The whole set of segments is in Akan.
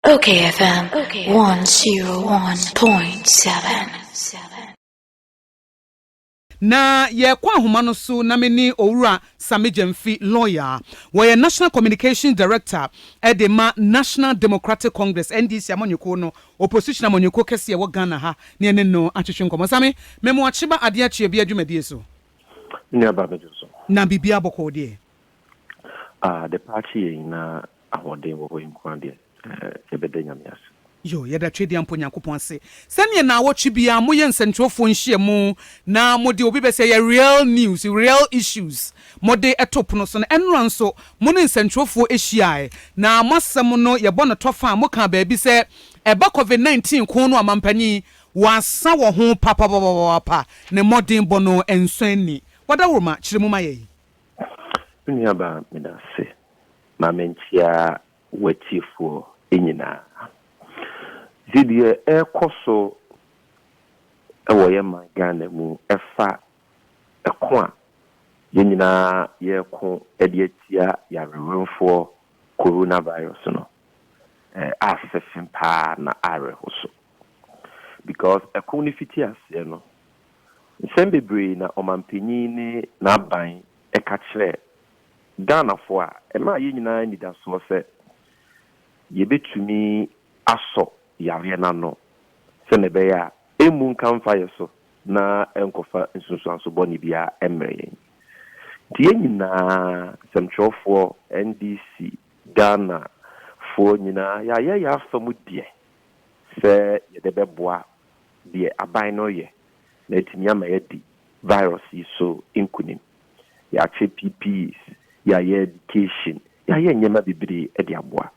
Okay, FM 101.7. Na yɛkɔ ahoma no so na me ne Owura Sammy Gyamfi, lawyer, wɔyɛ National Communications Director de ma National Democratic Congress, NDC, amanyɔkuo no, opposition amanyɔkuo kɛseɛ ɛwɔ Ghana ha, ne yɛne no atwetwe nkɔmmɔ. Sammy, me mo akyeba adeɛ akyea bi adwumadie so. Nnuaba me dwo so. Na biribiara bɔkɔɔ deɛ? Ah, the party yɛ nyinaa ahoɔden wɔ hɔ yi nko ara deɛ, yɛbɛda Nyame ase. Yoo, yɛda Tweduampɔ Nyankopɔn ase sɛ neɛ naawɔtwe biara moyɛ nsɛnkyerɛwfoɔ nhyiamu na mode obi bɛsi ɛyɛ real news, real issues mode to pono so no. Ɛnora nso mo ne nsɛnkyerɛwfoɔ hyiaaɛ na mo asɛm no yɛbɔ no tɔfa a mokaa baabi sɛ ɛba covid 19 ko no a manpanin wɔasa wɔ ho papapapapapa ne mmɔdenbɔ no ɛnsɔ ani. Wadaworoma, kyerɛ mu ma yɛn. Me nuabaa, meda ase ma menkyea w'atiefoɔ nyinaa. Nti deɛ ɛrekɔ so wɔ yɛn man Ghana mu ɛfa ɛko a yɛn nyinaa yɛreko de atia yareweremfoɔ Corona Virus no, asɛ fen paa na awerɛho so. Because ɛko no fiti aseɛ no, nsɛm bebree na ɔmanpanin ne n'aban ka kyerɛɛ Ghanafoɔ a, ɛma yɛn nyinaa anidasoɔ sɛ yɛbɛtumi asɔ yareɛ no ano sɛdeɛ ɛbɛyɛ a ɛmmu nka mfa yɛn so na ɛnkɔfa nsunsuanso bɔne biara mmrɛ yɛn. Nti yɛn nyinaa, nsɛmtwerɛfoɔ, NDC, Ghanafoɔ nyinaa, yɛayɛ yɛn afa mu deɛ sɛ yɛde bɛboa deɛ aban no reyɛ na atumi ama yɛadi virus yi so nkunim. Yɛakyɛ PPs, yɛayɛ education, yɛayɛ nneɛma bebree de aboa.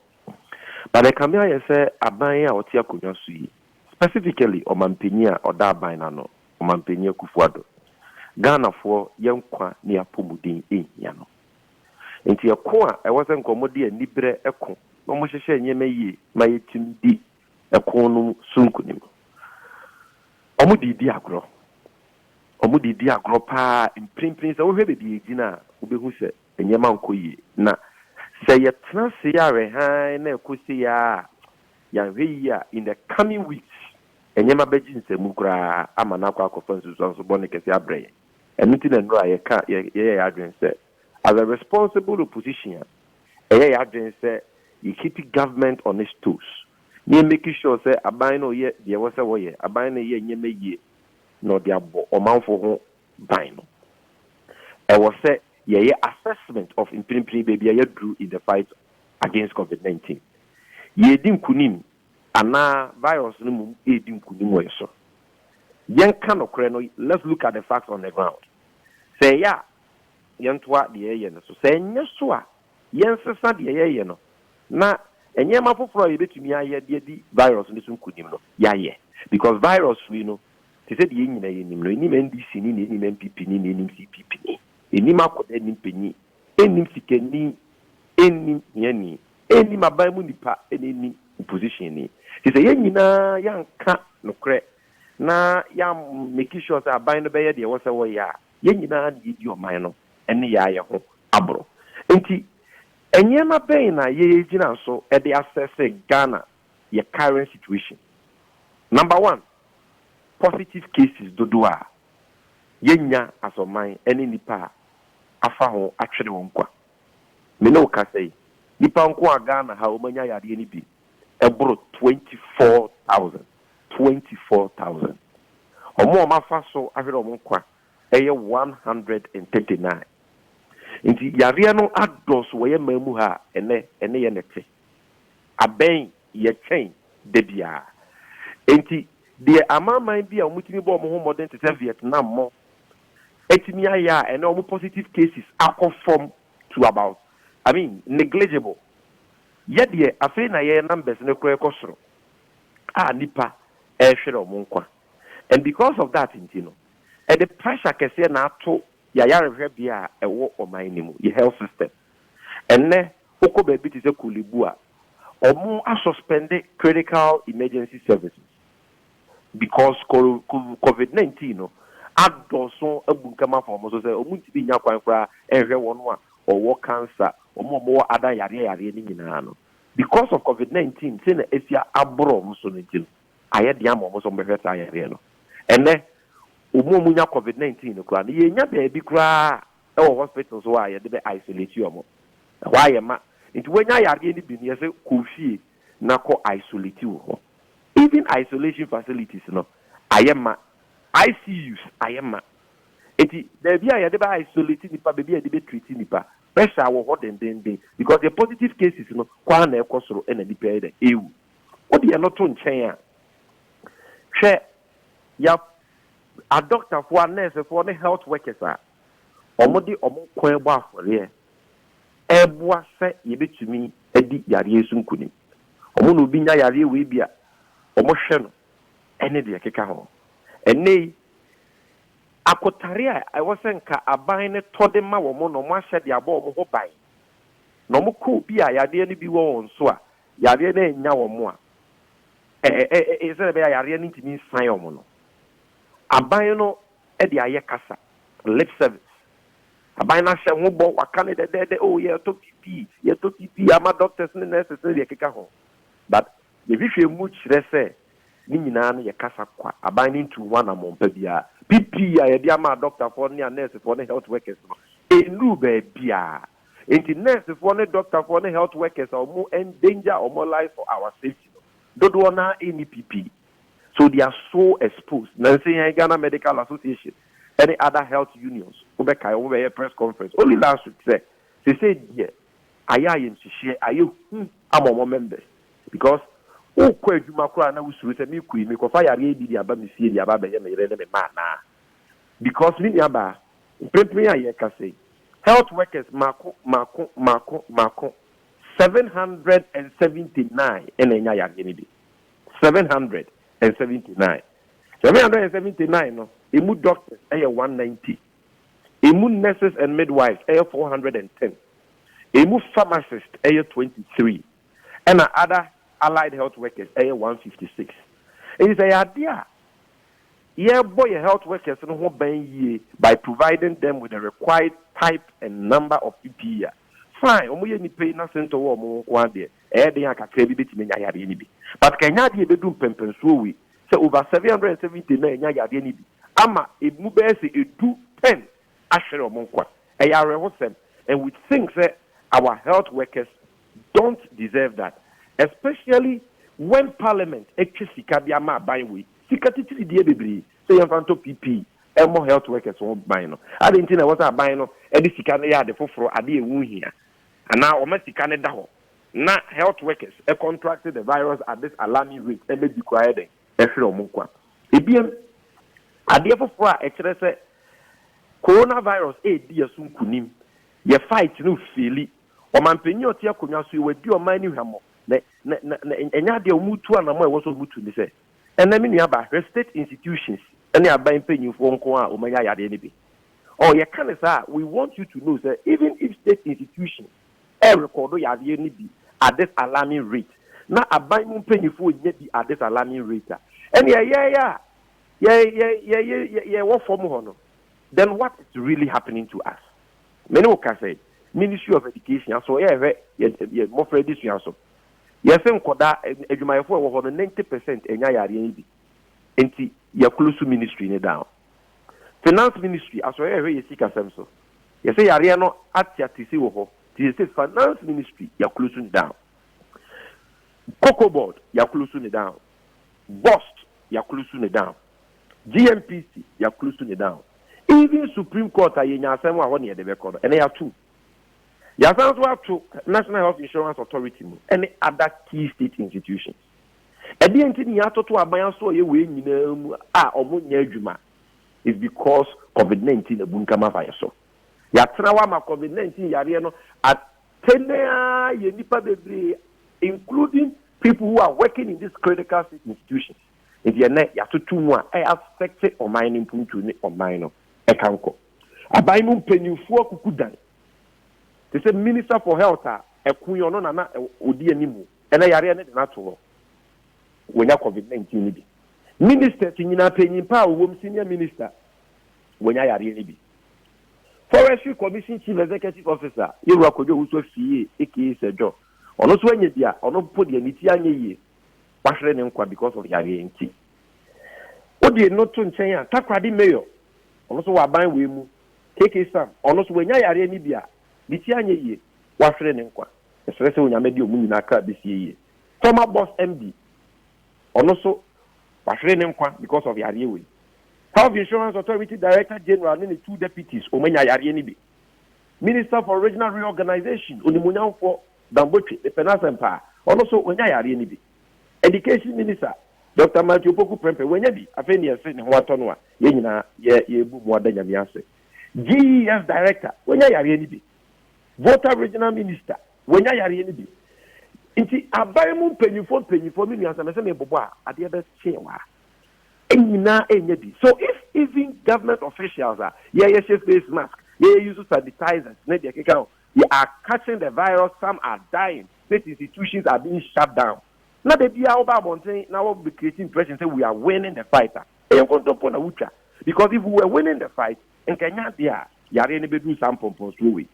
But ɛkame ayɛ sɛ aban a ɔte akonnwa so yi, specifically ɔmanpanyin a ɔda aban no ano, Ɔmanpanyin Akufo-Addo, Ghanafoɔ yɛn nkwa ne yɛn apɔmuden nhia no. Nti ɛko a ɛwɔ sɛ nka wɔde aniberɛ ko na wɔhyehyɛ nneɛma yie ma yɛtumi di Ɛko no mu so nkonim. Wɔn de di agorɔ. Wɔn de di agorɔ paa. Mprempren sɛ wohwɛ baabi a egyina a, wobehu sɛ nneɛma nkɔ yie. Na sɛ yɛtena ase yare hann na ɛkɔ sei ara a, yɛanhwɛ yie a, in the coming weeks, nneɛma bɛgye nsam koraa ama no akɔ akɔfa nsunsuanso bɔne kɛse abrɛ yɛn. Ɛno nti na nnura yɛka, yɛyɛ yɛn adwene sɛ As a responsible opposition, ɛyɛ yɛn adwene sɛ yɛ keep government on its toes na yɛ make sure sɛ aban no yɛ deɛ ɛwɔ sɛ wɔyɛ, aban no yɛ nneɛma yie na ɔde abɔ ɔmanfoɔ ho ban no. Ɛwɔ sɛ yɛyɛ assessment of mprempren baabi a yɛaduru in the fight against Covid nineteen. Yɛredi nkunim anaa virus no mmom redi nkunim wɔ yɛn so? Yɛnka nokorɛ no, let's look at the facts on the ground. Sɛ ɛyɛ a yɛntoa deɛ yɛyɛ no so. Sɛ ɛnyɛ so a, yɛnsesa deɛ yɛyɛ no na nneɛma foforɔ a yɛbɛtumi ayɛ de adi virus no so nkunim no, yɛayɛ. Because virus wei no, te sɛ deɛ yɛn nyinaa yɛnim no, ɛnnim NDC ni na ɛnnim NPP ni na ɛnnim CPP ni. Ɛnnim akɔda, ɛnnim panyin, ɛnnim sikani, ɛnnim hiani, ɛnnim aban mu nipa na ɛnnim opposition ni. Nti sɛ yɛn nyinaa yɛanka nokorɛ na yɛammeki sure sɛ aban no bɛyɛ deɛ ɛwɔ sɛ wɔyɛ a, Yɛn nyinaa na yedi ɔman no nneyɛe yɛ ho aboro. Enti nneɛma bɛn na yɛgyina so de assesse Ghana yɛ current situation? Number one, positive cases dodoɔ a yɛnya as ɔman ne nnipa a afa ho atwere wɔn kwa. Me ne wo kasa yi, nnipa nko a Ghana ha a wɔanya yadeɛ no bi ɛboro twenty four thousand, twenty four thousand. Wɔn a wɔafa so ahwere wɔn nkwa yɛ one hundred and thirty nine. Nti yareɛ no adɔɔso wɔ yɛn man mu ha a ɛnnɛ ɛne yɛn na ɛte. Abɛn yɛkyɛn da biara. Enti deɛ amanaman bi a wɔtumi bɔ wɔn ho mmɔden te sɛ Vietnam mo atumi ayɛ a ɛnnɛ wɔn positive cases akɔ fam to about, I mean, negligible. Yɛ deɛ afei na yɛ numbers no kora kɔ soro a nipa ɛrehwere ɔmo nkwa and because of that nti no ɛde pressure kɛseɛ na ato yɛ ayarehwɛbea a ɛwɔ ɔman no mu, yɛ health system. Ɛnnɛ wokɔ baabi te sɛ Korle Bu a ɔmo a suspend critical emergency services because covid nineteen no adɔɔso abunkam afa wɔn so sɛ wɔntumi nnya kwan koraa nhwɛ wɔn a wɔwɔ cancer, wɔn a wɔwɔ ada yareɛ yareɛ no nyinaa no. Because of covid nineteen sei na asi aboro wɔn so no nti no, ayɛ den ama wɔn sɛ wɔbɛhwɛ saa yareɛ no. Ɛnnɛ wɔn a wɔnya covid nineteen no koraa no, yɛnnya baabi koraa wɔ hospitals hɔ a yɛde bɛ isolate wɔn. Ɛhɔ ara yɛma. Nti woanya yareɛ no bi no, yɛse kɔ wo fie na kɔ isolate wo ho. Even isolation facilities no ayɛ ma, ICUs ayɛ ma. Nti baabi a yɛde bɛ isolate nnipa, baabi a yɛde bɛ treat nnipa, pressure wɔ hɔ dendenden because yɛn positive cases no kɔ ara na ɛkɔ soro na nnipa yɛ dɛ ɛrewu. Wode ɛno to nkyɛn a, hwɛ yɛ adɔktafoɔ, anɛɛsefoɔ ne health workers a wɔde wɔn nkwa rebɔ afɔreɛ reboa sɛ yɛbɛtumi adi yareɛ yi so nkunim. Wɔn na obi nya yareɛ wei bi a, wɔhwɛ no ne deɛ ɛkeka ho. Ɛnnɛ yi, akotare a ɛwɔ sɛ nka aban no tɔ de ma wɔn na wɔahyɛ de abɔ wɔn ho ban, na wɔkɔ obi a yadeɛ no bi wɔ wɔn so a, yareɛ no annya wɔn a, ɛ, ɛ, ɛ, sɛdeɛ ɛbɛyɛ a yareɛ no ntumi nsan wɔn no, aban no de ayɛ kasa, lip service. Aban no ahyɛ ho bɔ, wɔaka no dɛdɛɛdɛ, oh, yɛretɔ PPE, yɛretɔ PPE ama doctors ne nurses ne deɛ ɛkeka ho. But deɛ hwehwɛ mu kyerɛ sɛ ne nyinaa no yɛ kasa kwa, aban no ntuu ho anammɔn pa biara. PPE a yɛde ama adɔkotafoɔ ne anɛɛsefoɔ ne health workers no, ɛnnuruu baabiara. Enti nɛɛsefoɔ ne dɔkotafoɔ ne health workers a wɔn endanger wɔn lives for our safety no, dodoɔ no ara nni PPE. So they are so exposed na nse yɛn Ghana medical association ɛne other health unions wo bɛ kae wɔn bɛ yɛ press conference only last week sɛ sesei deɛ ayɛ ayɛnhyehyeɛ ayɛ hu ama wɔn members because wo kɔ adwuma koraa na wo suro sɛ me kɔ yi me kɔ fa yareɛ yi bi de aba me fie de aba abɛyɛ me yere ne me mma anaa because me nua baa mprempren a yɛreka sɛ yi health workers mako mako mako mako seven hundred and seventy nine ɛna anya yareɛ no bi. Seven hundred and seventy nine Seven hundred and seventy nine no, emu doctors yɛ one ninety, emu nurses and midwives yɛ four hundred and ten, emu pharmacists yɛ twenty three, ɛna other allied health workers yɛ one hundred and fifty six. Enti sɛ ɛyɛ adeɛ a, yɛbɔ yɛn health workers no ho ban yie by providing them with the required type and number of PPE a, fine, wɔyɛ nnipa yi na sento wɔ wɔn nko ara deɛ, Ɛyɛ den a kakraa bi bɛtumi anya yadeɛ no bi, but ka ɛnyɛ adeɛ a ɛbɛdu mpɛnpɛnsoɔ wei sɛ over 770 na anya yadeɛ no bi ama ɛmu bɛyɛ sɛ ɛdu 10 ahwere wɔn nkwa. Ɛyɛ awerɛhosɛm and we think sɛ our health workers don't deserve that especially when parliament atwa sika de ama aban wei, sika titiri deɛ bebree sɛ yɛmfa ntɔ PPE mmɔ health workers ho ban no. Adɛn nti na ɛwɔ sɛ aban no de sika no yɛ ade foforɔ, ade a ɛho hia? Anaa wɔma sika no da hɔ na health workers contract the virus at this alarming rate ɛma bi koraa yɛ dɛn? Ɛhwere wɔn nkwa. Ebiem, adeɛ foforɔ a ɛkyerɛ sɛ coronavirus redi yɛn so nkunim, yɛn fight no refeeli. Ɔmanpanin a ɔte akonnwa so yi, wadi ɔman no hwammɔ, na ɛnyɛ adeɛ a wɔretu anammɔn a ɛwɔ sɛ wɔtu ne sɛ, Ɛnnɛ me nua ba, hwɛ state institutions ne aban mpanyimfoɔ nko ara a wɔanya yadeɛ no bi. Ɔɔ yɛka no saa a, we want you to know sɛ even if state institutions ɛrekɔɔdo yadeɛ no bi at this alarming rate na aban mu mpanyimfoɔ nnya bi at this alarming rate a, ɛnneɛ yɛn a yɛ yɛ yɛ yɛ yɛ yɛwɔ fam hɔ no, then what is really happening to us? Me ne wo ka sɛ, Ministry of Education, aso yɛrehwɛ yɛn yɛn mmɔfra adesua so? Yɛse nkɔdaa adwumayɛfoɔ a ɛwɔ hɔ no ninety percent ɛnya yareɛ yi bi nti yɛ close ministry no down. Finance ministry asɔre ɛhwɛ yɛ sika sɛm so yɛse yareɛ no ateatesi wɔ hɔ nti yɛse finance ministry yɛ close no down. Cocoa board yɛ close no down. Bost yɛ close no down. GMPC yɛ close no down. Even supreme court a yɛnya asɛm wɔ a hɔ ne yɛde bɛkɔ no ɛnɛ yɛ atom. Yɛasan nso ato National Health Insurance Authority mu ne other key state institutions. Ɛdeɛn nti ne yɛatoto aban asoɛeɛ wei nyinaa mu a wɔnyɛ adwuma? It's because COVID-19 abunkam afa yɛn so. Yɛatena hɔ ama COVID-19 yareɛ no atene ara yɛn nnipa bebree including people who are working in these critical state institutions. Nti ɛnnɛ yɛatoto mu a ɛyɛ affect ɔman no mpuntuo ne ɔman no ɛka nkɔ. Aban mu mpanyimfo akuku dan te sɛ Minister for Health a ɛko yi ɔno na na ɔdi anim na yareɛ no de no ato hɔ. Wanya covid 19 no bi. Ministers nyinaa panyin pa a ɔwɔ mu, senior minister, wanya yareɛ no bi. Forestry Commission Chief Executive Officer, Yɛwura Kojo Owusu Afie, aka Sir John, ɔno nso anya bi a ɔno mpo deɛ ne ti anyɛ yie. wahwere ne nkwa because of yareɛ nti. Wode no to nkyɛn a, Takoradi Mayor, ɔno nso wɔ aban wei mu, KK Sam, ɔno nso wanya yareɛ no bi a, ne ti anyɛ yie, wahwere ne nkwa. Mesrɛ sɛ Onyame de wɔn nyinaa kra bɛsie yie. Former Boss MD, ɔno nso wahwere ne nkwa because of yareɛ wei. Health Insurance Authority Director General ne ne two deputies, wɔn anya yareɛ no bi. Minister for Regional Reorganization, onimuonyamfoɔ Dangote, mepɛ n'asɛm paa. Ɔno nso, ɔnya yareɛ no bi. Education minister, Doctor Matthew Opoku Prempeh, wanya bi. Afei neɛ se ne ho atɔ no a, yɛn nyinaa yɛ yɛbu mu ada Nyame ase. GES director, wanya yareɛ no bi. Volta regional minister, wanya yareɛ no bi. Nti aban mu mpanyinfoɔ mpanyinfoɔ, me nua, sɛ mese mebobɔ a, adeɛ bɛkye wo a, nyinaa ɛnya bi. So if even government officials a, yɛyɛ hyɛ face mask, yɛyɛ use sanitizers ne deɛ ɛkeka ho, They are catching the virus, some are dying, state institutions are being shut down. Na da biara woba abɔnten na wo be create impression sɛ we are winning the fight a, ɛyɛ nkontompo na wotwa. Because if we were winning the fight, nka ɛnyɛ adeɛ a yareɛ no bɛduru saa mpɔmpɔnsoɔ wei.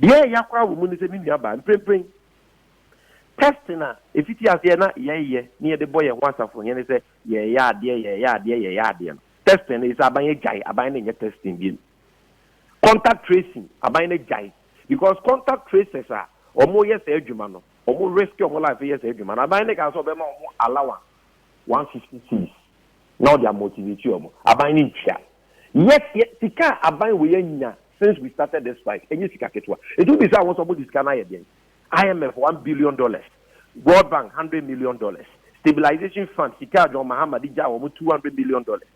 Deɛ ɛya koraa wɔ mu ne sɛ me nua baa, mprempren testing a ɛfiti aseɛ na yɛyɛ ne yɛde bɔ yɛn ho asafohene sɛ yɛreyɛ adeɛ, yɛreyɛ adeɛ, yɛreyɛ adeɛ no, testing no ɛsɛ aban agyae, aban no nyɛ testing biom. Contact tracing, aban no agyae because contact tracers a wɔyɛ saa adwuma no, wɔn risk wɔn life yɛ saa adwuma no, aban no kaa sɛ wɔbɛma wɔn allowance one fifty cedis na wɔde amotivate wɔn. Aban no ntua. Yet yɛ sika a aban wei anya since we started this fight ɛnyɛ sika ketewa. Nti wobisa wɔn sɛ wɔde sika no ayɛ deɛn? IMF one billion dollars, World Bank hundred million dollars, Stabilization Fund sika a John Mahama de gyae wɔn two hundred million dollars.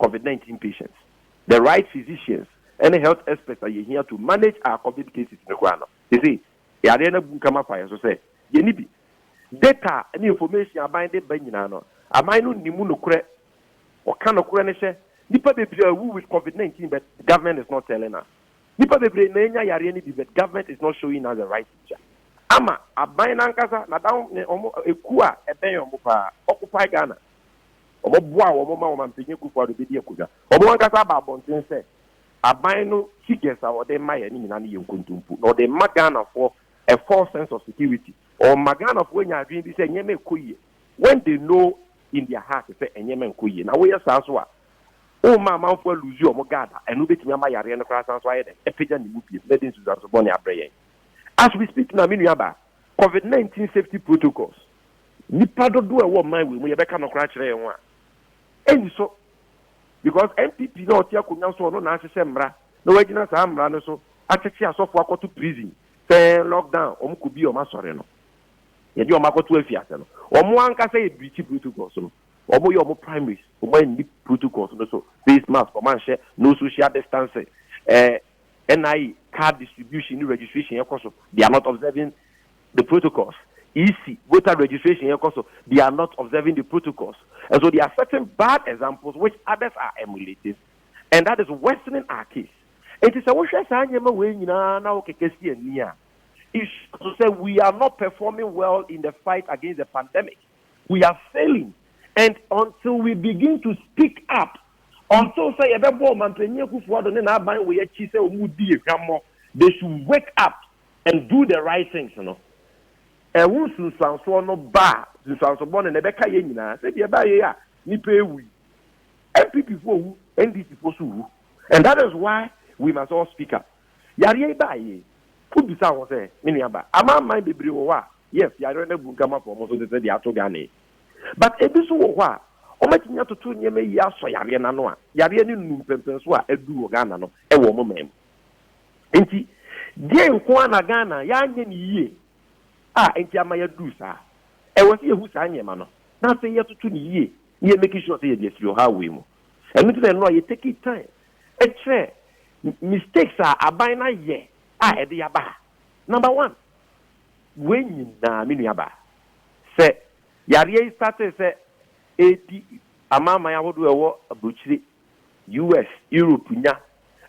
Covid nineteen patients, the right physicians ne health experts a yehia to manage our Covid cases no koraa no, ese yareɛ no abunkam afa yɛn so sɛ yenni bi. Data a ɛne information a aban de ba nyinaa no, aban no nni mu nokorɛ. Wɔka nokorɛ no hyɛ, nnipa bebree awu with Covid nineteen but government is not telling us. Nnipa bebree na anya yareɛ no bi but government is not showing us the right picture. Ama aban no ankasa, n'adamfo, wɔn ekuo a ɛbɛn wɔn paa, occupy Ghana. Wɔboaa wɔn ma Ɔmampanyin Akufo-Addo bedi akonnwa. Wɔn ankasa aba abɔnten sɛ, Aban no figures a wɔde ma yɛn no nyinaa no yɛ nkontompo, na wɔde ma Ghanafoɔ a false sense of security. Wɔma Ghanafoɔ nya adwene bi sɛ nneɛma rekɔ yie when they know in their heart sɛ nneɛma nkɔ yie. Na woyɛ saa nso a, woma amanfoɔ alose wɔn guard a ɛno betumi ama yareɛ no koraa asan so ayɛ dɛn? Apagya ne mu bio. Na ɛde nsunsuanso bɔne abrɛ yɛn. As we speak now, me nuabaa, Covid nineteen safety protocols, nipa dodoɔ a ɛwɔ ɔman wei mu yɛbɛka nɔkorɛ akyerɛ yɛn ho a, ɛnniso because NPP no a ɔte akonnwa so ɔno na ahyehyɛ mmara na wagyina saa mmara no so akyekye asɔfoɔ akɔto prison sɛ lockdown wɔn kɔ bi wɔn asɔre no yɛde wɔn akɔto afiase no wɔn ankasa yɛ breachi protocols no wɔn yɛ wɔn primaries wɔn anni protocols no so face mask wɔn anhyɛ no social distancing ɛɛ. Eh, NIE card distribution ne registration yɛ kɔ so, they are not observing the protocols. EC voter registration yɛ kɔ so, they are not observing the protocols. And so they are setting bad examples which others are emulating and that is worsening our case. Enti sɛ wohwɛ saa nneɛma wei nyinaa na wokeka si ani a, it shows sɛ we are not performing well in the fight against the pandemic. we are failing and until we begin to speak up, until sɛ yɛbɛbɔ Ɔmanpanyin Akufo-Addo ne n'aban wei akyi sɛ wɔn redi yɛn hwammɔ, they should wake up and do the right things no, ɛho nsunsuansoɔ no ba a, nsunsuanso bɔne no ɛbɛka yɛn nyinaa. Sɛdeɛ ɛbaa yei a nnipa rewu yi, NPP-foɔ wu, NDC-foɔ nso wu and that is why we must all speak up. Yareɛ yi baa yei, wobisa wo ho sɛ, me nua ba, amanaman bebree wɔ hɔ a, Yes, yɛayerɛ no abu ntam afa wɔn so te sɛ deɛ ato Ghana yi. But ebi nso wɔ hɔ a, wɔatumi atoto nneɛma yie asɔ yareɛ no ano a yareɛ no nnu mpɛnpɛnsoɔ a aduru wɔ Ghana no wɔ wɔn man mu. Enti deɛn nko ara na Ghana yɛanyɛ no yie a enti ama yɛaduru saa? Ɛwɔ sɛ yɛhu saa nneɛma no na afei yɛtoto no yie na yɛ make sure sɛ yɛde afiri ɔhaw wei mu. Ɛno nti na nnora yɛ take time kyerɛ mistakes a aban no ayɛ a ɛde yɛaba ha. Number one, Wei nyinaa, me nuabaa, sɛ yareɛ yi startee sɛ ɛredi amanaman ahodoɔ a ɛwɔ aburokyire, US, Europe nya,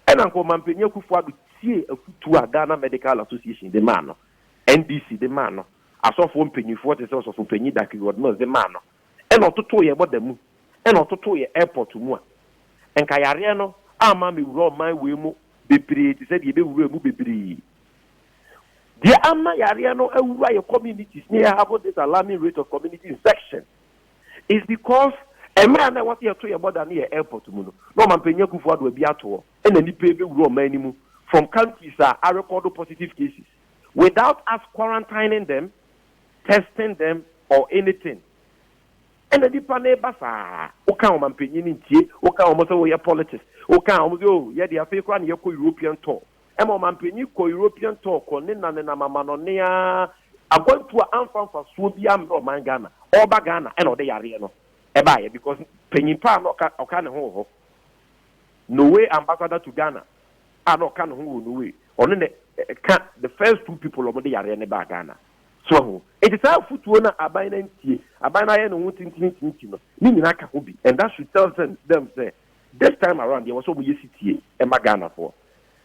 ɛna anka Ɔmanpanin Akufo-Addo tiee afotuo a Ghana Medical Association de maa no, NDC de maa no, asɔfoɔ mpanimfoɔ te sɛ Ɔsɔfopanin Daky Rod-Mills de maa no, ɛna ɔtotoo yɛn bɔda mu, ɛna ɔtotoo yɛn airport mu a, anka yareɛ no amma ammɛwura ɔman wei mu bebree te sɛ deɛ ɛbɛwuraa mu bebree. Deɛ ama yareɛ no awura yɛ communities ne yɛ having this alarming rate of community infection is because mmerɛ a na ɛwɔ sɛ yɛto yɛ border ne yɛ airport mu no na ɔmampanyin Akuffo Addo abi ato hɔ ɛna nipa yi bɛwura ɔman no mu from countries a arekɔdo positive cases without us quarantining them, testing them or anything ɛna nipa no reba saa woka ɔmampanyin no ntie woka wɔn sɛ wɔyɛ politics woka wɔn sɛ oh yɛde afei koraa na yɛkɔ European tour Ɛma ɔmampanyin kɔ European tour kɔ ne na nenam amanɔne aa akwantu a amfa mfasoɔ biaa mmrɛ ɔman Ghana. Ɔɔba Ghana ɛna ɔde yareɛ no ɛbaeɛ because panyin paa na ɔka ɔka ne ho wɔ hɔ. Norway ambassador to Ghana a na ɔka ne ho wɔ Norway ɔno na ɛka the first two people a wɔde yareɛ no baa Ghana. So wahu? Nti saa afutuo no a aban no antie, aban no ayɛ ne ho tintirintinti no ne nyinaa ka ho bi and that should tell them sɛ this time around deɛ ɛwɔ sɛ wɔyɛ sitie ma Ghanafoɔ.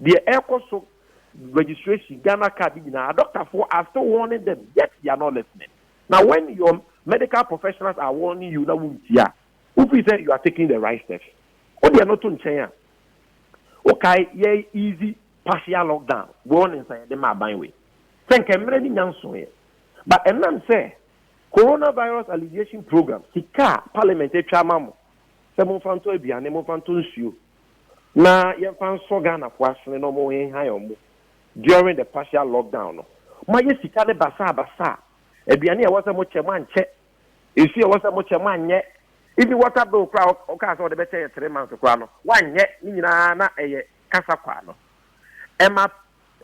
Deɛ ɛrekɔ so, registration, Ghana card ne nyinaa, adɔktafoɔ are still warning them yet they are not listening. Na when your medical professionals are warning you na wontie a, wofeel sɛ you are taking the right steps. Wode ɛno to nkyɛn a, wokae yɛ easy partial lockdown warnings a yɛde ma aban wei. Sɛ nka mmerɛ no nnya nsoeɛ but ɛnam sɛ Coronavirus Alleviation Programme sika a parliament atwa ama mo sɛ momfa ntɔ aduane, momfa ntɔ nsuo, na yɛmfa nsɔ Ghanafoɔ asene na wɔnhehan wɔn during the partial lockdown no. Moayɛ sika no basaa basaa. Aduane a ɛwɔ sɛ mokyɛ, moankyɛ. Nsuo a ɛwɔ sɛ mokyɛ, moanyɛ. Even water bill koraa a wokaa sɛ wode bɛkyɛ yɛ three months koraa no, woanyɛ. Ne nyinaa na ɛyɛ kasa kwaa no. Ɛma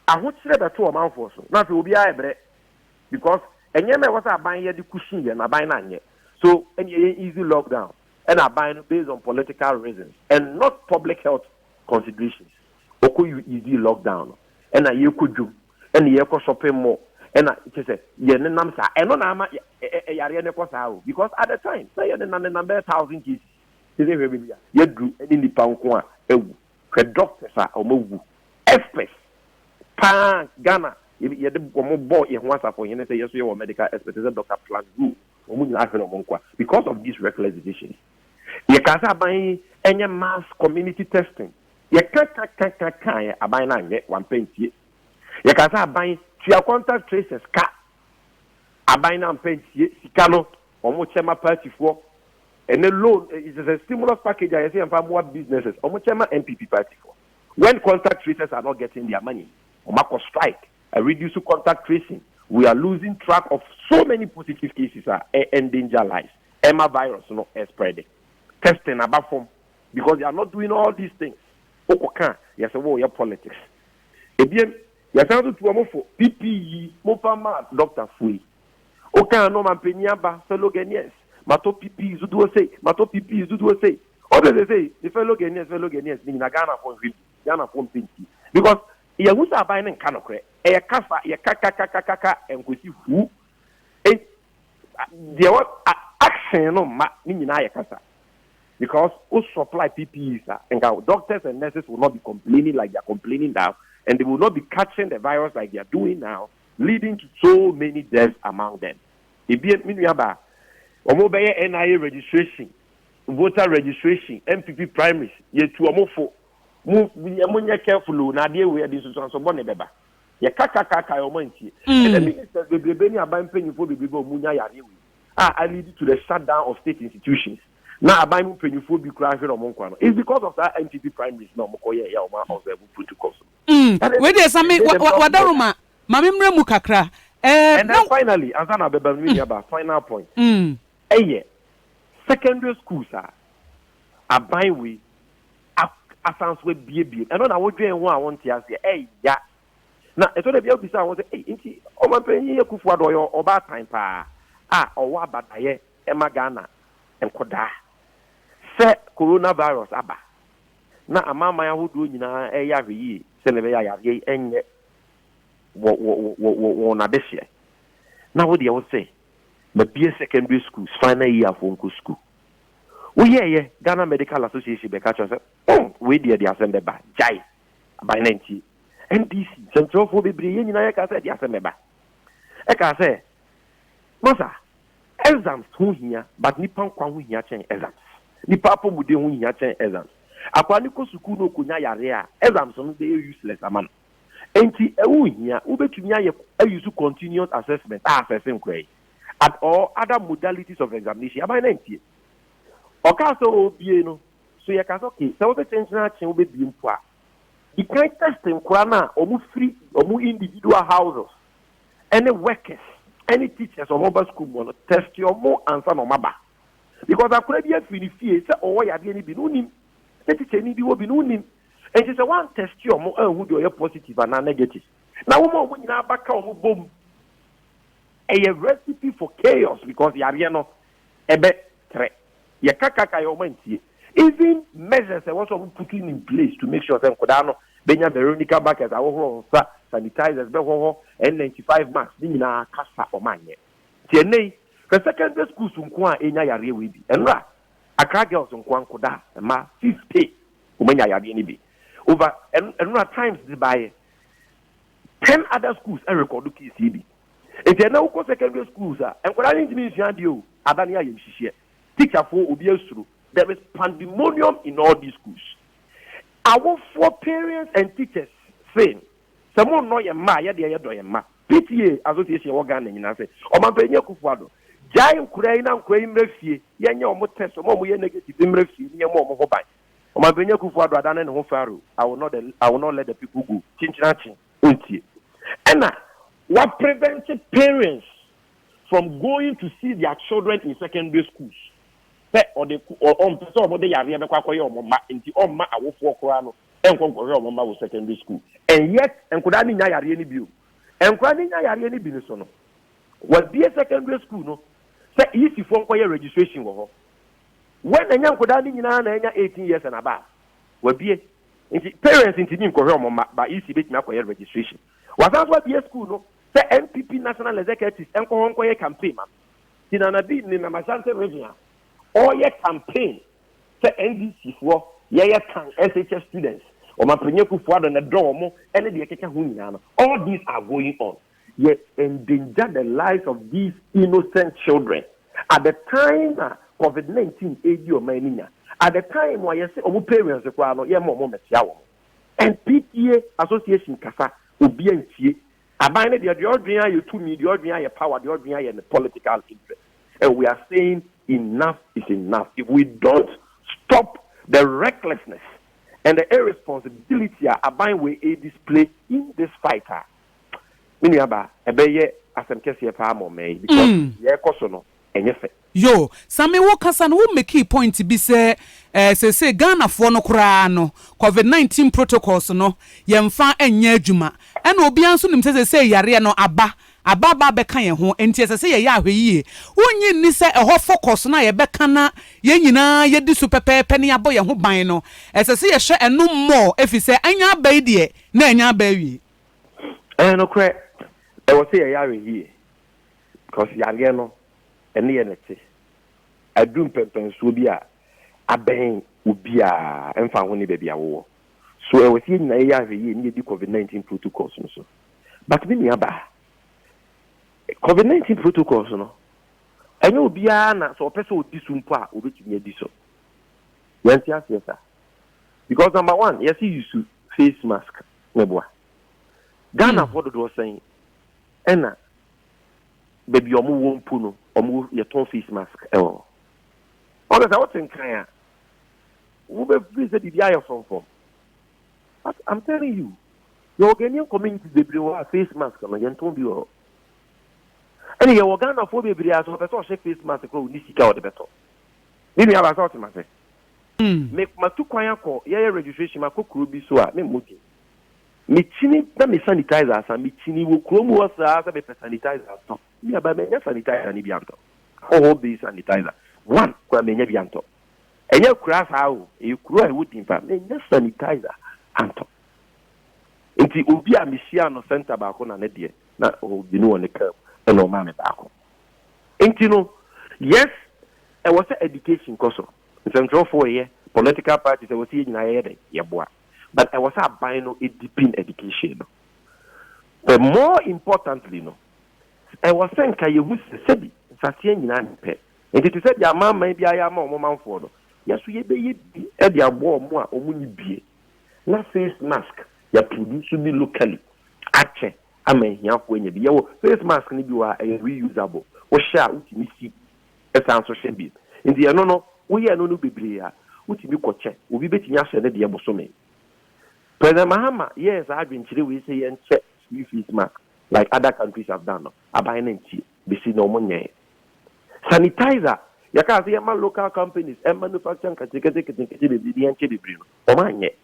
ahokyerɛ bɛto ɔmanfoɔ so, na afei obiara rebrɛ because nneɛma a ɛwɔ sɛ aban yɛ de cushion yɛ no, aban no anyɛ. So ɛnneɛ yɛn easy lockdown. ɛna aban no based on political reasons and not public health considerations ɔkɔ yɛdii lockdown no ɛna yɛkɔ dwom ɛna yɛkɔ shopping mall ɛna kyɛ sɛ yɛnenam saa ɛno na ama ɛyareɛ no kɔ saa o because at the time na yɛnenam nenam bɛyɛ thousand cases te sɛ hwɛ baabi a yɛduru ɛne nnipa nko a awu hwɛ doctors a wɔn awu experts paa Ghana yɛde wɔn bɔ yɛn ho asafo hene sɛ yɛso yɛ wɔ medical experts sɛ Dr. Plangu Wɔn nyinaa ahwere wɔn nkwa because of these reckless decisions. Yɛkaa sɛ aban yi nyɛ mass community testing. Yɛka ka ka ka kaeɛ, aban no anyɛ, wampɛ ntie. Yɛkaa sɛ aban tua contact tracers ka, aban no ampɛ ntie. Sika no, wɔkyɛ ma partyfoɔ. Ɛnɛ loan, it is a stimulus package a yɛsɛ yɛmfa mmoa businesses, wɔkyɛ ma NPP partyfoɔ. When contact tracers are not getting their money, wɔakɔ strike. a reduce contact tracing, we are losing track of so many positive cases a ɛ endanger lives, ɛma virus no spread. Testing aba fam because they are not doing all these things. Wokɔ ka a, yɛse woreyɛ politics. Ebien, yɛsan nso tu wɔn fo, PPE momfa mma doctor fo yi. Woka a na ɔmanpanin aba, fellow Ghanaians, matɔ PPEs dodoɔ sei, matɔ PPEs dodoɔ sei. Ɔsɛ sesei ne fellow Ghanaians, fellow Ghanaians no nyinaa Ghanafoɔ nhwɛ bi, Ghanafoɔ mpɛ ntie because Yɛahu sɛ aban no nka nokorɛ. Ɛyɛ kasa, yɛka ka ka ka ka ka ɛnkɔsi hu. En, a, deɛ wɔ, a, action no mma, ne nyinaa yɛ kasa. Because wo supply PPEs a, nka doctors and nurses will not be complaining like they are complaining now and they will not be catching the virus like they are doing now leading to so many deaths among them. Ebien, me nuabaa, wɔn bɛyɛ NIA registration, voter registration, NPP primaries, yɛtu wɔn fo. mo yɛ mo nyɛ careful o na adeɛ wei ɛde nsusuanso bɔ ne bɛba yɛ kakakaka ɔmo antie mm. ɛna minister bebrebe ne aban mpanyinfoɔ bebrebe a ɔmo nya yareɛ wei a a lead to the shutdown of state institutions na aban mu mpanyinfoɔ bi kura ahwere ɔmo nkwa no it's because of saa NPP primaries na ɔmo kɔ yɛ yɛ ɔmo observe protocols. Mm. wei deɛ sɛ me wadaroma maame mmerɛ mu kakra. ɛɛ eh, na finally ansa na abɛba mi ni aba final point. Mm. Ɛyɛ secondary schools a aban wei asan so abiebie. Ɛno na wodwen ho a wonte aseɛ. Ɛya. Na ɛtɔ da bi a wobisa ho sɛ, ei, nti Ɔmanpanyin Akufo Addo ɔyɛ ɔbaatan paa a ɔwɔ abadaeɛ ma Ghana nkwadaa sɛ Corona virus aba na amanaman ahodoɔ nyinaa reyɛ ahwɛyie sɛdeɛ ɛbɛyɛ a yareɛ yi nyɛ wɔn adehyeɛ na wo deɛ wose Mabue secondary schools final year foɔ nkɔ school woyɛɛyɛ Ghana medical association bɛka kyerɛ sɛ oh wei deɛ de asɛm bɛba gyae aban na ntie NDC sɛnkyerɛfoɔ bebree yɛn nyinaa yɛka sɛ de asɛm bɛba ɛka sɛ masa exams ho hia but nipa nkwa ho hia kyɛn exams nipa apɔmuden ho hia kyɛn exams akwa ne kɔ sukuu na ɔkɔnya yareɛ a exams no bɛyɛ useless ama no Enti ɛho nhia, wobɛtumi ayɛ ayusu continuous assessment a asɛse nkorae at or other modalities of examination aban no antie. Ɔkaa sɛ ɔrebie no, so yɛka sɛ okay, sɛ wobɛkyenkyene akye wobɛbie mpo a, di kan test nkora no a wɔfiri wɔn individual houses ɛne workers ɛne teachers a wɔba sukuu mu no, test wɔn ansa na wɔaba. Because akora bi afiri ne fie sɛ ɔwɔ yadeɛ no bi no, wonim, sɛ tikyani bi wɔ bi no, wonim, Enti sɛ woantɛste wɔn anhu deɛ ɔyɛ positive anaa negative, na woma wɔn nyinaa ba ka wɔn bom, ɛyɛ recipe for chaos because yareɛ no ɛbɛ trɛ. Yɛka kaka yɛ wɔn antie. Even measures ɛwɔ sɛ wɔn putting in place to make sure sɛ nkodaa no bɛnya Veronica buckets, ahohoro wɔn nsa, sanitizers, bɛhɔhɔ, N95 masks ne nyinaa kasa wɔn anyɛ. Nti ɛnnɛ yi hwɛ secondary schools nko a ɛnya yareɛ wei bi. Ɛnora Accra girls nko a nkodaa, mmaa, 50 Wɔanya yadeɛ no bi. Over ɛno ɛno na Times de baeɛ. Ten other schools ɛrekɔdo case yi bi. Nti ɛnɛ wokɔ secondary schools a, nkwadaa no ntumi nsua adeɛ o. Ada ne ayamhyehyeɛ. Teacherfoɔ obi asuro. There is pandemonium in all these schools. Awofoɔ, parents and teachers, same. Sɛ monnɔ yɛn mma a, yɛ deɛ yɛdɔ yɛn mma. PTA association ɛwɔ Ghana nyinaa sɛ Ɔmanpanyin Akuffo Addo gyae nkoraa yi na nkoraa yi mmra fie, yɛnyɛ wɔn test, wɔn a wɔn yɛ negative mmra fie na yɛmmɔ wɔn ho ban. Ɔmanpanyin Akuffo Addo adane ne ho Pharaoh, I will not the I will not let the people go, kyinkyirakye, ɔntie. Ɛna wa prevent parents from going to see their children in secondary schools sɛ ɔde ɔmpɛ sɛ wɔn de yareɛ bɛkɔ akɔyɛ wɔn mma nti ɔmma awofoɔ koraa no nkɔ nkɔhwɛ wɔn mma wɔ secondary school. And yet nkwadaa no nnya yareɛ no bio. Nkwadaa no nya yareɛ no bi no so no, wɔabue secondary school no sɛ EC foɔ nkɔyɛ registration wɔ hɔ. When ɛnyɛ nkwadaa no nyinaa na anya eighteen years and above, wɔabue. Nti parents ntumi nkɔhwɛ wɔn mma but EC bɛtumi akɔyɛ registration. Wɔasan nso abue school no sɛ NPP national executives nkɔ hɔ nkɔyɛ campaign ma no. Nti Nana Bi nenam Ashanti region a ɔreyɛ campaign sɛ NDC foɔ yɛyɛ tan SHS students, Ɔmampanyin Akuffo Addo na ɛdɔ wɔn ɛne deɛ ɛkeka ho nyinaa no, all these are going on. Yɛ endanger the lives of these innocent children at the time na covid 19 ɛredi ɔman no nya, at the time a yɛse wɔn parents koraa no yɛmma wɔn mmɛkyea wɔn. NPTA association kasa, obiara ntie. Aban no deɛ deɛ ɔdwen ayɛ tumi, deɛ ɔdwen ayɛ power, deɛ ɔdwen ayɛ ne political interest and we are saying enough is enough if we don't stop the recklessness and the irresponsibility a aban wei ɛredisplay in this fight a, me nua baa, ɛbɛyɛ asɛm kɛseɛ paa ama ɔman yi because deɛ ɛrekɔ so no ɛnyɛ fɛ. Yo, Sammy wo kasa no wo mekii point bi sɛ eh seesei Ghanafoɔ no koraa no covid nineteen protocols no yɛnfa nyɛ adwuma ɛna obiara nso nim sɛ seesei yareɛ no aba aba aba abɛka yɛn ho nti ɛsɛ sɛ yɛyɛ ahwɛyie wonnye nni sɛ ɛhɔ focus no a yɛbɛka na yɛn nyinaa yɛdi so pɛpɛɛpɛ na yɛabɔ yɛn ho ban no ɛsɛ sɛ yɛhwɛ ɛno more efisɛ anya aba yi deɛ na anya aba awie. Ɛyɛ nokorɛ ɛwɔ sɛ yɛyɛ ahwɛyie because yareɛ no ɛne yɛn na ɛte. Adu mpɛnpɛnsoɔ bi a, abɛn obiara, ɛmfa ho ne baabi a wowɔ. So ɛwɔ sɛ yɛn nyinaa yɛyɛ ahwɛyie na yɛdi Covid nineteen protocols no so? But me nua baa, Covid nineteen protocols no, ɛnyɛ obiara na sɛ ɔpɛ sɛ ɔdi so mpo a, ɔbɛtumi adi so. Yɛnte aseɛ saa. Because number one, yɛse use face mask, meboa. Ghanafoɔ dodoɔ sɛn ɛna baabi a wɔwɔ mpo no, wɔtɔn face mask wɔ hɔ. Ɔno sɛ wote nkan a, wobɛfiri sɛ biribi ayɛ frɔmfrɔm. But I'm telling you, yɛwɔ Ghanaian communities bebree wɔ hɔ a face mask no yɛntɔn bi wɔ hɔ. Ɛne yɛwɔ Ghanafoɔ bebree a sɛ ɔpɛ sɛ ɔhyɛ face mask korɔ ɔni sika a ɔde bɛtɔ. Me nua baa sɛ ɔte mase. Hmm. Me matu kwan akɔ yɛyɛ registration makɔ kuro bi so a me mmɔdin. Mekyini na me sanitizer asa. Mekyini wɔ kurom hɔ saa sɛ mepɛ sanitizer atɔ. Me a, but manya sanitizer no bi antɔ. Alcohol based sanitizer, one koraa manya bi antɔ. Ɛnyɛ akuraa saa o, ɛyɛ kuro a ɛwɔ din paa. Manya sanitizer antɔ. Nti obi a mehyia no center baako na ne deɛ, na ɔwɔ mmienu wɔ ne kaa mu, ɛna ɔmaa me baako. Nti no, yes, ɛwɔ sɛ education kɔ so. Nsɛntwerɛfoɔ yɛ, political parties, ɛwɔ sɛ yɛn nyinaa yɛyɛ dɛn? Yɛboa. but ɛwɔ sɛ aban no deepen education no. But more importantly no, ɛwɔ sɛ nka yɛhu sɛ sɛbi nsaseɛ nyinaa nyɛ pɛ. Nti te sɛ deɛ amanman biara yɛ ama wɔn manfoɔ no, yɛn nso yɛbɛyɛ bi de aboa wɔn a wɔnni bie na face mask yɛaproduce bi locally akyɛ ama ahiafoɔ anya bi. Yɛwɔ face mask no bi wɔ ha a ɛyɛ reusable, wohyɛ a wotumi si Ɛsan nso hyɛ bi. Nti ɛno no woyɛ ɛno no bebree a wotumi kɔ kyɛ. Obi bɛtumi ahyɛ ne deɛ bosome. President Mahama yɛɛ saa adwenkyerɛ wei sɛ yɛnhyɛ free face mask like other countries have done no, aban no antie. Bɛsi nnɛ wɔn nyɛɛ. Sanitizer yɛkaa sɛ yɛma local companies ɛmanufacture nketenkete nketenkete bebree no yɛnkyɛ bebree no, wɔn anyɛ.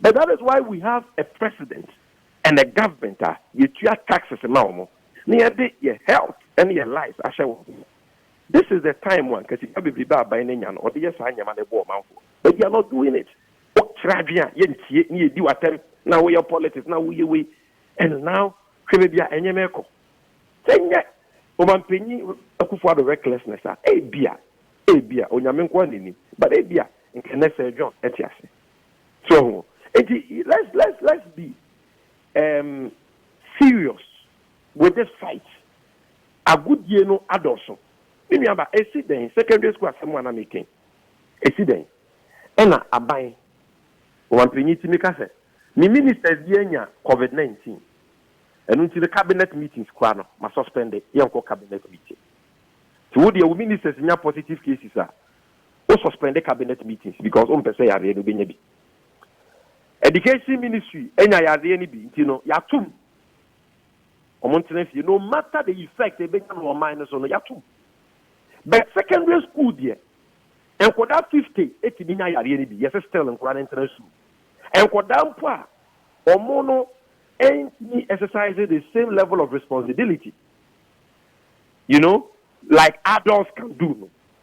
But that is why we have a president and a government a yɛtua taxes ma wɔn na yɛde yɛ health ne yɛ lives ahyɛ wɔn nsa. This is the time a nka sika bebrebe a aban no anya no wɔde yɛ saa nneɛma no bɔ ɔmanfoɔ but they are not doing it. Wokyerɛ adwene a yɛntie na yɛdi wo atɛm na woyɛ politics na woyɛ wei and now hwɛ baabi a nneɛma rekɔ. Sɛ ɛnyɛ Ɔmampanyin Akufo Addo recklessness a ebia ebia Onyame nko ara na ɛnim but ebia nka ɛnnɛ Sir John te ase. So ho? Enti let's let's let's be um, serious with this fight. Agodie no adɔso. Me nua ba, esi dɛn? Secondary school asɛm a na meka yi, esi dɛn? Ɛna aban ɔmampanyin ti meka sɛ me ministers bi anya covid nineteen. Ɛno nti no cabinet meetings koraa no ma suspend yɛnkɔ cabinet meeting. Ti wo deɛ wo ministers nya positive cases a wo suspend cabinet meetings because wompɛ sɛ yareɛ no wobɛnya bi. Education ministry anya yareɛ no bi nti no yɛatom wɔn ntena fie no matter the effect ɛbɛnya no wɔn man no so no yɛatom. But secondary school deɛ nkwadaa 50 ɛtumi nya yareɛ no bi yɛsɛ still nkwadaa no ntena sukuu. Nkwadaa mpo a wɔn no ɛntumi exercise the same level of responsibility you know like adults can do no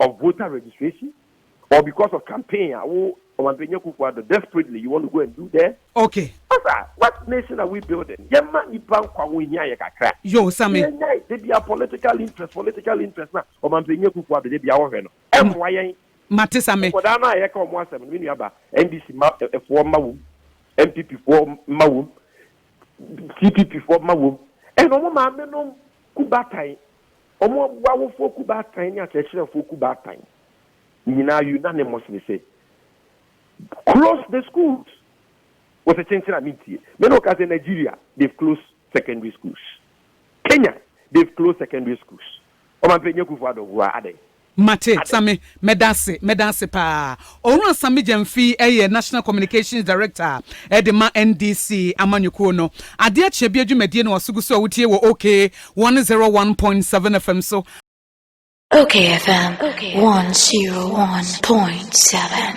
of voter registration or because of campaign a wo Ɔmanpanyin Akufo-Addo desperately you want to go and do there? Okay. Masa, what nation are we building? Yɛmma nnipa nkwa ho nhia yɛ kakra. Yoo, Same. Yɛnnyae, da biara political interest, political interest no a Ɔmanpanyin Akufo-Addo da biara ɔhwɛ no, ɛmmoa yɛn. Mate, Same. Nkwadaa no a yɛka wɔn asɛm no, me nua ba, NDC mma foɔ mma wom, NPP foɔ mma wom, CPP foɔ mma wom, and wɔn maamenom ku batan Wɔabu awofoɔ kuo baatan ne akyerɛkyerɛfoɔ kuo baatan nyinaa unanimously sɛ close the schools. Wɔse kyenkyen a mentie. Me ne wo ka sɛ Nigeria they've closed secondary schools, Kenya they've closed secondary schools. Ɔmampanin Akufo-Addo, who are adɛn? Mate, Same, mɛda ase, mɛda ase paa. Owura Same Gyamfi yɛ National Communications Director de ma NDC amanyɔkuo no. Adeɛ akyɛ bi adwumadie na waso gu so a wotie wɔ OK one zero one point seven FM so. OK FM one zero one point seven.